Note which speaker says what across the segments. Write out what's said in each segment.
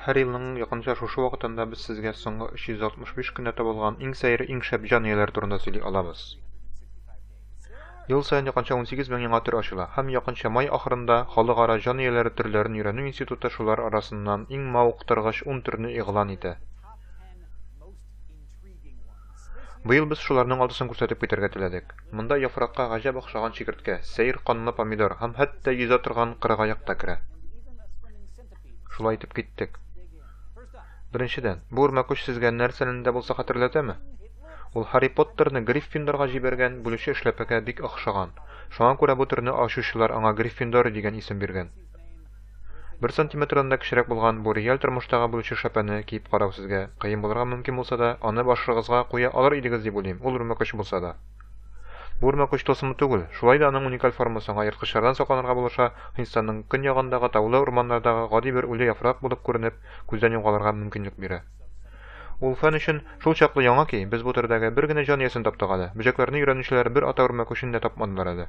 Speaker 1: Һәр елның якынча шушы вакытында без сезгә соңгы 365 көндә табылган иң сәер, иң шәп җан ияләре турында сөйли алабыз. Ел саен якынча 18 мең яңа төр ачыла һәм якынча май ахырында халыкара җан ияләре төрләрен өйрәнү институты шулар арасыннан иң мавыктыргыч 10 төрне игълан итә. Быел без шуларның алтысын күрсәтеп китәргә теләдек. Монда яфракка гаҗәп охшаган чикерткә, сәер канлы помидор һәм хәтта йөзә торган кырыгаяк та керә. Шулай итеп киттек. Беренчедән, бу үрмәкүч сезгә нәрсәне дә булса хәтерләтәме? Ул Харри Поттерны Гриффиндорга җибәргән бүлүче эшләпәгә бик охшаган. Шуңа күрә бу төрне ачучылар аңа Гриффиндор дигән исем биргән. Бер сантиметрдан да кечерәк булган бу реаль тормыштагы бүлче шәпәне киеп карау сезгә кыен булырга мөмкин булса да, аны башыгызга куя алыр идегез дип уйлыйм, ул үрмәкүч булса да. Бу үрмәкүч тылсымлы түгел, шулай да аның уникаль формасы аңа ерткычлардан сакланырга булыша, Һиндстанның көньягындагы таулы урманнардагы гади бер үле яфрак булып күренеп, күздән югалырга мөмкинлек бирә. Ул фән өчен шул чаклы яңа ки, без бу төрдәге бер генә җан иясен таптык әле, бөҗәкләрне өйрәнүчеләр бер ата үрмәкүчен дә тапмадылар әле.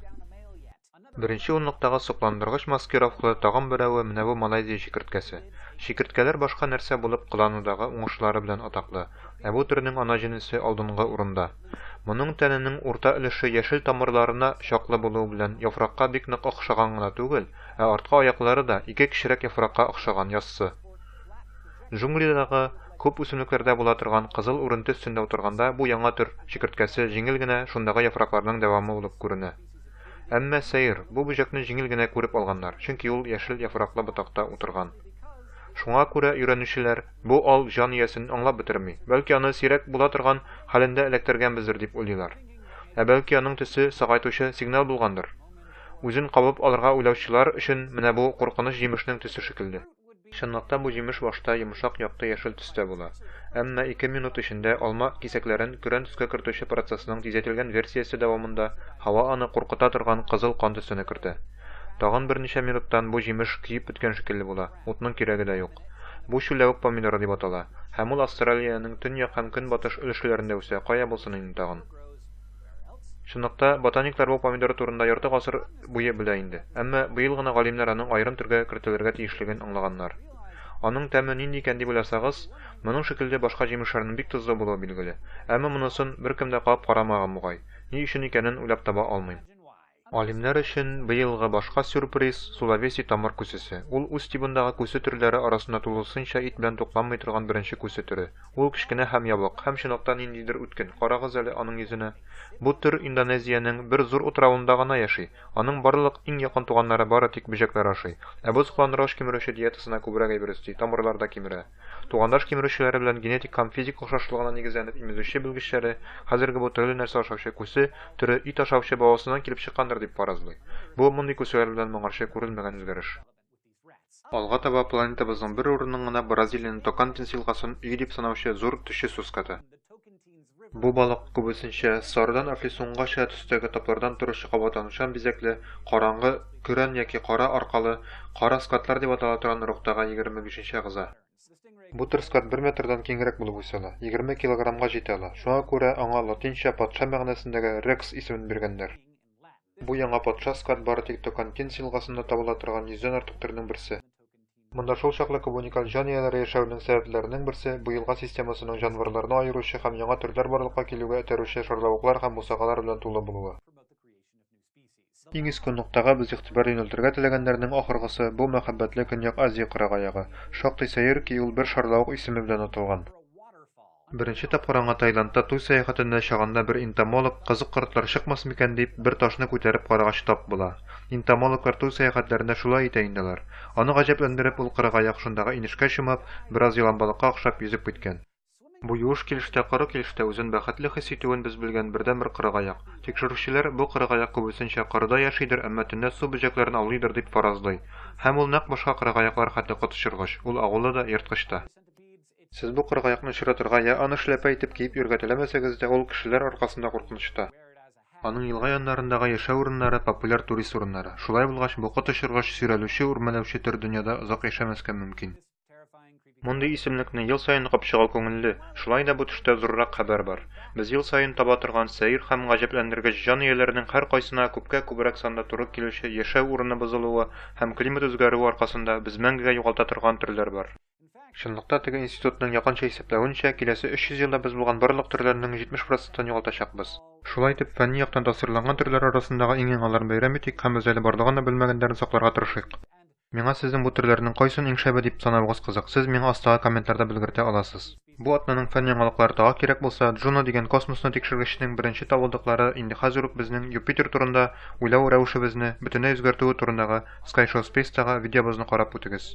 Speaker 1: Беренче унлыктагы сокландыргыч маскировкалы тагын берәве менә бу Малайзия чикерткәсе. Чикерткәләр башка нәрсә булып кыланудагы уңышлары белән атаклы, ә бу төрнең ана җенесе алдынгы урында. Моның тәненең урта өлеше яшел тамырларына чаклы булуы белән яфракка бик нык охшаган гына түгел, ә арткы аяклары да ике кечерәк яфракка охшаган, яссы. Джунглидагы күп үсемлекләрдә була торган кызыл үренте өстендә утырганда бу яңа төр чикерткәсе җиңел генә шундагы яфракларның дәвамы булып күренә. Әмма сәер, бу бөҗәкне җиңел генә күреп алганнар, чөнки ул яшел яфраклы ботакта утырган. Шуңа күрә өйрәнүчеләр бу ал җан иясен аңлап бетерми, бәлки аны сирәк була торган хәлендә эләктергәнбездер дип уйлыйлар. Ә бәлки аның төсе сагайтучы сигнал булгандыр? Үзен кабып алырга уйлаучылар өчен менә бу куркыныч җимешнең төсе шикелле. Чынлыкта бу җимеш башта йомшак якты яшел төстә була. Әмма ике минут эчендә алма кисәкләрен көрән төскә кертүче процессның тизәйтелгән версиясе дәвамында һава аны куркыта торган кызыл кан төсенә кертә. Тагын берничә минуттан бу җимеш көеп беткән шикелле була, утның кирәге дә юк. Бу чүлләвек помидоры дип атала, һәм ул Австралиянең төньяк һәм көнбатыш өлешләрендә үсә, кая булсын инде тагын. Чынлыкта, ботаниклар бу помидор турында ярты гасыр буе белә инде. Әмма быел гына галимнәр аның аерым төргә кертелергә тиешлеген аңлаганнар. Аның тәме нинди икән дип уйласагыз, моның шикелле башка җимешләрнең бик тозлы булуы билгеле. Әмма монысын беркем дә кагып карамаган бугай. Ни өчен икәнен уйлап таба алмыйм. Алимнәр өчен быелгы башка сюрприз, сулавеси тамыр күсесе. Ул үз тибындагы күсе төрләре арасында тулысынча ит белән тукланмый торган беренче күсе төре. Ул кечкенә һәм ябык, һәм чынлыкта ниндидер үткен, карагыз әле аның йөзенә. Бу төр Индонезиянең бер зур утравында гына яши. Аның барлык иң якын туганнары бары тик бөҗәкләр ашый. Ә боз кыланроч кимерүче диетасына күбрәк әйбер өсти, тамырлар да кимерә. Тугандаш кимерүчеләре белән генетик һәм физик охшашлыгына нигезләнеп имезүче белгечләре хәзерге бу төрле нәрсә ашаучы күсе төре ит ашаучы бабасыннан килеп чыккандыр дип фаразлый. Бу, мондый күселәр белән моңарчы күрелмәгән үзгәреш. Алга таба планетабызның бер урынын гына Бразилиянең Токантинс елгасын өй дип санаучы зур төче суската. Бу балык күбесенчә сарыдан афлисунгача төстәге таплардан торучы кабатланучан бизәкле, караңгы, көрән яки кара аркалы, кара скатлар дип атала торган оруктагы 25 әгъза. Бу төр скат бер метрдан киңрәк булып үсә ала, 20 килограммга җитә ала, шуңа күрә аңа латинча патша мәгънәсендәге рекс исемен биргәннәр. Бу яңа патша скат бары тик Токантинс елгасында табыла торган йөздән артык төрнең берсе. Монда шул чаклы күп уникаль җан ияләре яшәвенең сәбәпләренең берсе, бу елга системасының җанварларны аеручы һәм яңа төрләр барлыкка килүгә этәрүче шарлавыклар һәм бусагалар белән тулы булуы. Иң иске ноктага без игътибар юнәлтергә теләгәннәрнең ахыргысы, бу мәхәббәтле Көньяк Азия кырыгаягы. Шактый сәер ки, ул бер шарлавык исеме белән аталган. Беренче тапкыр аңа Таиландта туй сәяхәтенә чагында бер энтомолог, кызык кортлар чыкмас микән дип, бер ташны күтәреп карагач тап була. Энтомологлар туй сәяхәтләрендә шулай итә инде алар. Аны гаҗәпләндереп, ул кырыгаяк шундагы инешкә чумып, бераз еланбалыкка охшап, йөзеп киткән. Бу юеш килеш тә, коры килеш тә үзен бәхетле хис итүен без белгән бердәнбер кырыгаяк. Тикшерүчеләр, бу кырыгаяк күбесенчә корыда яшидер, әмма төнлә су бөҗәкләрен аулыйдыр дип фаразлый. Һәм ул нәкъ башка кырыгаяклар хәтле коточыргыч, ул агулы да, ерткыч та. Сез бу коры каякны очратырга я аны эшләпә итеп киеп йөрергә теләмәсәгез дә, ул кешеләр аркасында куркынычта. Аның елга яннарындагы яшәү урыннары популяр турист урыннары. Шулай булгач, бу коточыргыч, сөйрәлүче, үрмәләүче төр дөньяда озак яшәмәскә мөмкин. Мондый исемлекне ел саен капып чыгу күңелле, шулай да бу төштә зуррак хәбәр бар. Без ел саен таба торган сәер һәм гаҗәпләндергеч җан ияләренең һәркайсына күпкә күбрәк санда туры килүче яшәү урыны бозылуы һәм климат үзгәрүе аркасында без мәңгегә югалта торган төрләр бар. Чынлыкта теге институтның якынча исәпләвенчә, киләсе 300 елда без булган барлык төрләрнең 70 процентын югалтачакбыз. Шулай итеп, фәнни яктан тасвирланган төрләр арасындагы иң яңаларын бәйрәм итик һәм без әле барлыгын да белмәгәннәрен сакларга тырышыйк. Миңа сезнең бу төрләрнең кайсын иң шәбе дип санавыгыз кызык, сез миңа астагы комментларда белгертә аласыз. Бу атнаның фән яңалыклары тагы кирәк булса, Джуно дигән космосны тикшергечнең беренче табылдыклары инде хәзер үк безнең Юпитер турында уйлау рәвешебезне бөтенләй үзгәртүе турындагы Skyshow Space тагы видеобызны карап үтегез.